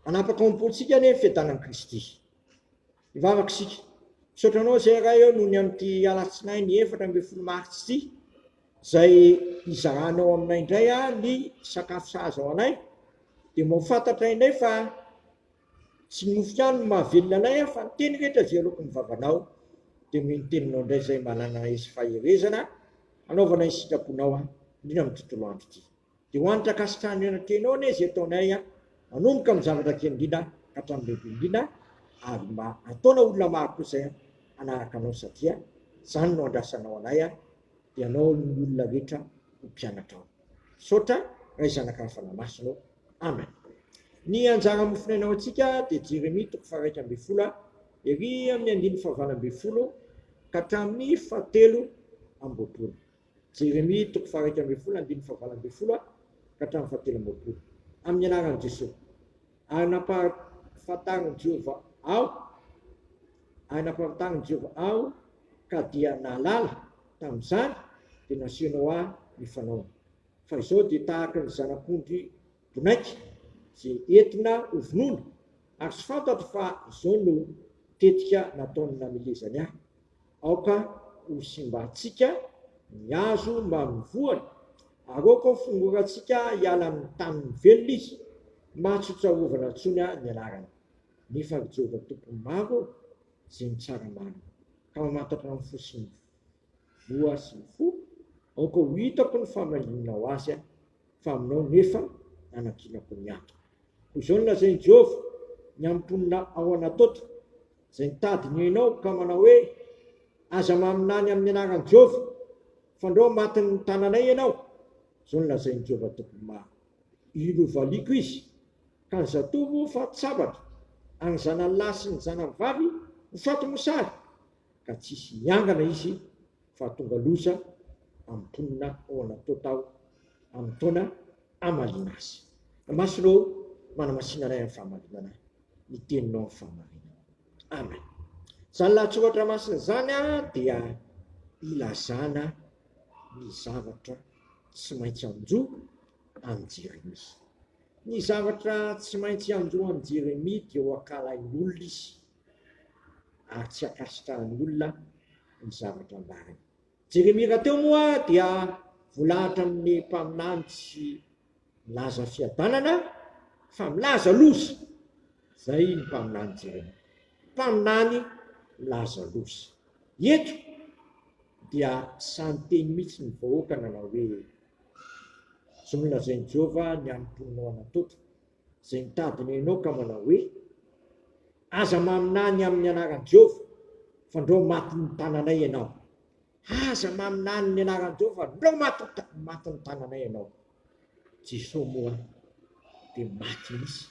Hanapaka ao am-pontsika anie ny fiadanan'i Kristy. Hivavaka isika. Misaotra Anao izay Ray ô, noho ny amin'ity alatsinainy efatra ambin'ny folo martsa ity, izay hizahanao aminay indray aho ny sakafo sahaza ho anay, dia mahafantatra indray fa tsy ny mofo ihany no mahavelona anay aho, fa ny teny rehetra izay aloky ny vavanao, dia noho ny teninao indray izay manana esy faherezana hanaovana ny sitraponao, indrindra amin'ny tontolo andro ity. Dia ho an'ny Trakasik'Any Eo Anatrehinao anie izay ataonay an, manomboka amin'ny zavatra kely indrindra ka hatramin'ny lehibe indrindra ary mba ataona olona maro koa izay hanaraka Anao satria izany no andrasanao anay an, dia anao aloha ny olona rehetra ho mpianatra ao. Misaotra Ray Zanaka Ary Fanahy Masina ô. Amen. Ny anjara mofon'aina ho antsika dia Jeremia toko faharaika ambin'ny folo a, ery amin'ny andininy fahavalo ambin'ny folo ka hatramin'ny fahatelo amby roapolo. Jeremia toko faharaika ambin'ny folo andininy fahavalo ambin'ny folo a ka hatramin'ny fahatelo amby roapolo. Amin'ny anaran'i Jesoa. Ary nampahafantarin'i Jehovah aho, ary nampahafantarin'i Jehovah aho, ka dia nahalala, tamin'izany dia nasehonao ahy ny fanaony, fa izao dia tahaka ny zanak'ondry bonaika izay entina hovonoina, ary tsy fantatro fa izao no tetika nataony namilezany ahy. Aoka ho simbantsika ny hazo mba amin'ny voany, ary aoka ho fongorantsika hiala amin'ny tany mivelona izy, mba tsy ho tsarovana intsony ny anarany. Nefa ry Jehovah Tompon'ny maro ô, izay mitsara marina, ka mamantatra ny fo sy ny voa sy ny fo, aoka ho hitako ny famalianao azy, fa aminao nefa nanankinako ny antoko. Koa izao no lazain'i Jehovah, Ny amin'ny mponina ao Anatota, izay nitady ny ainao ka manao hoe, 'Aza maminany amin'ny anaran'i Jehovah, fandrao matin'ny tananay ianao', izao no lazain'i Jehovah Tompon'ny maro, Iroro valiako izy, ka ny zatovo ho faty sabatra, ary ny zanany lahy sy ny zanany vavy ho faty mosary, ka tsy hisy hiangana izy. fa tonga loza amin'ny mponina ao Anatota aho amin'ny taona hamaliana azy. Masina ô, manamasinana ahy amin'ny fahamarinana ahy, ny teninao amin'ny fahamarinana. Amen. Izany lahatsoratra masina izany dia ilazana ny zavatra tsy maintsy anjo an'i Jeremia. Ny zavatra tsy maintsy anjo an'i Jeremia dia ho ankalain'olona izy, ary tsy ankasitrahan'ny olona ny zavatra ambarany. Jeremia rahateo moa dia volahatra amin'ny mpaminany tsy milaza fiadanana fa milaza loza. Izay ny mpaminany Jeremia. Mpaminany milaza loza. Eto dia samy teny mihitsy ny vahoaka nanao hoe izao no lazain'i Jehovah ny amin'ny mponina ao Anatota, izay nitady ny Enoka manao hoe, Aza maminany amin'ny anaran'i Jehovah, fa ndrao maty ny tananay ianao. Aza maminany ny anaran'i Jehovah, ndrao maty maty ny tananay ianao. Jesoa moa dia maty mihitsy,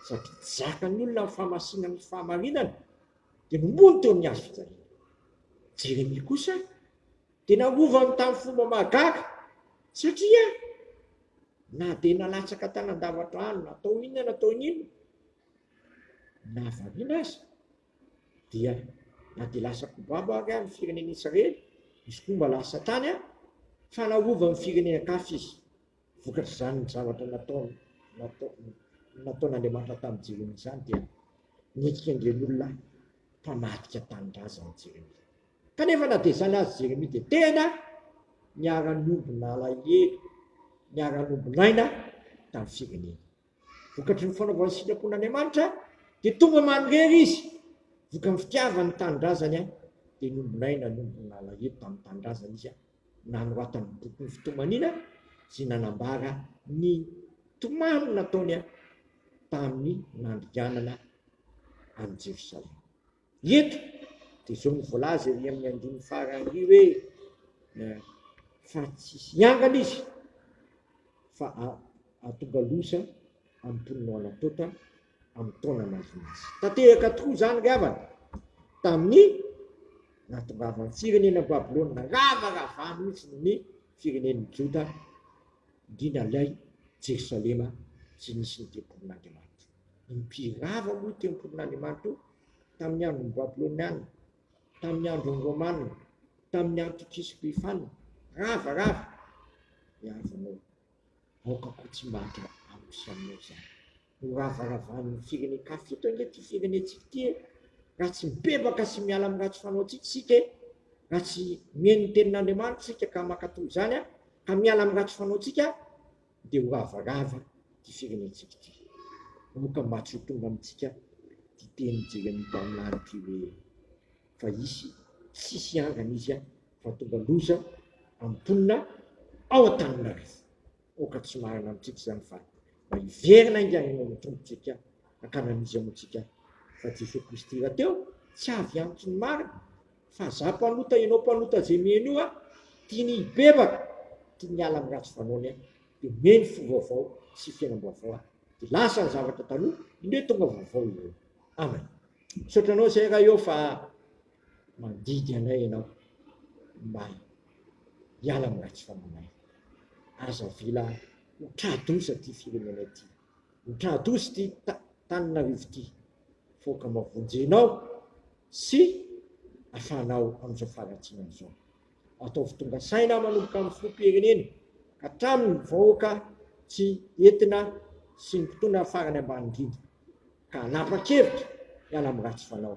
satria tsy zakan'ny olona ny famasinana ny fahamarinana, dia nimono teo amin'ny hazo fijaliana. Jeremia kosa Dia nangovany tamin'ny fomba mahagaga, satria na dia nalatsaka tany an-davatra any, natao inona natao inona, na variana aza, dia na dia lasa kobaba ary amin'ny firenen'i Israely, izy koa mba lasa tany an, fa narovany ny firenen-kafa izy, vokatr'izany ny zavatra nataony, natao, nataon'Andriamanitra tamin'i Jeremia izany dia nentin'Andrian'olona mpamadika tanindrazana i Jeremia. Kanefa na dia izany aza Jeremia dia tena niara-niombon'alahelo, niara-niombon'aina tamin'ny fireneny. Vokatry ny fanaovany ny sitrapon'Andriamanitra dia tonga manirery izy, vokany fitiavany ny tanindrazany dia niombon'aina, niombon'alahelo tamin'ny tanindrazany izy, nanoratany ny bokin'ny fitomaniana izay nanambara ny tomany nataony tamin'ny nandringanana an'i Jerosalema. Eto dia izao no voalaza ery amin'ny andininy farany ery hoe fa tsy hiangana izy fa hahatonga loza amin'ny mponinao Anatota amin'ny taona manodidina azy. Tanteraka tokoa izany ry havana tamin'ny nahatongavan'ny firenena Babylona ravarava mihitsy ny firenen'ny Joda, indrindra ilay Jerosalema izay nisy ny tempolin'Andriamanitra. Nirava aloha io tempolin'Andriamanitra io tamin'ny andron'ny Babylonianina, tamin'ny andron'ny Romanina, tamin'ny Antikisy Epifana. Rava, rava! Ny havanao. Aoka koa tsy mba hatra amiko sy aminao izany. Noravaravan'ny firenen-kafa. Fito ange ity firenentsika ity e! Raha tsy mibebaka sy miala amin'ny ratsy fanaontsika isika e! Raha tsy mihaino ny tenin'Andriamanitra isika ka mankatò izany ka miala amin'ny ratsy fanaontsika, dia ho ravoravo ity firenentsika ity, moka mba tsy ho tonga amintsika ity teny Jeremia mpaminany ity hoe, Fa hisy tsisy hiangana izy fa hahatonga loza amin'ny mponina ao Antananarivo. Aoka tsy marina amintsika izany fa mba hiverina haingana eo amin'ny Tompontsika hankany amin'iza moa tsika fa Jesoa Kristy rahateo tsy avy amiko ny marina? Fa za mpanota enao mpanota ze miheno io a tiany hibebaka tiany hiala am ratsy fanaony a de miheno fo vaovao sy fiainam baovao a de lasa ny zavatra taloha indreo tonga vaovao ireo amen misaotra anao zay ra eo fa mandidy anay enao mba hiala am ratsy fanaonay aza avela ho tra doza ty firenenay ty Mitradozy ity tananarivo ity foka mba vonjenao sy afahanao amin'izao faharatsiana izao. Ataovy tonga saina manomboka amin'ny filoham-pirenena ka hatramin'ny vahoaka tsy entina sy ny mpitondra farany ambany indrindra ka hanapa-kevitra hiala amin'ny ratsy fanao.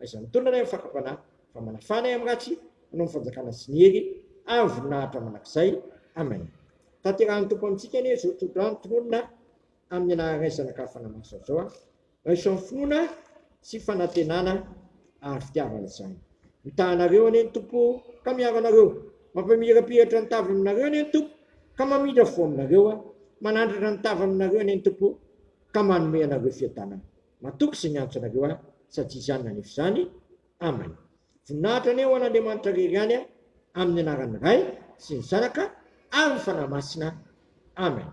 Aiza ny tolona anie amin'ny fakam-panahy fa manafana ahy amin'ny ratsy Ianao ny fanjakana sy ny hery ary voninahitra mandrakizay Amen Tanterahan'ny Tompo amintsika anie izao tsodrano tononina amin'ny anaharaisana ka fanamaso azy zao aho raiso amin'ny finoana sy fanantenana ary fitiavana izany mitaha anareo anie ny Tompo ka miaro anareo mampamirapiratra ny tavany aminareo anie ny Tompo ka mamindra fo aminareo manandratra ny tavany aminareo anie ny Tompo ka manome anareo fiadanana Matoky izay miantso anareo aho, sady tsy izany na nefa izany. Amany. Voninahitra anie ho an'Andriamanitra irery ihany, amin'ny anaran'ny Ray sy ny Zanaka ary ny Fanahy Masina. Amany.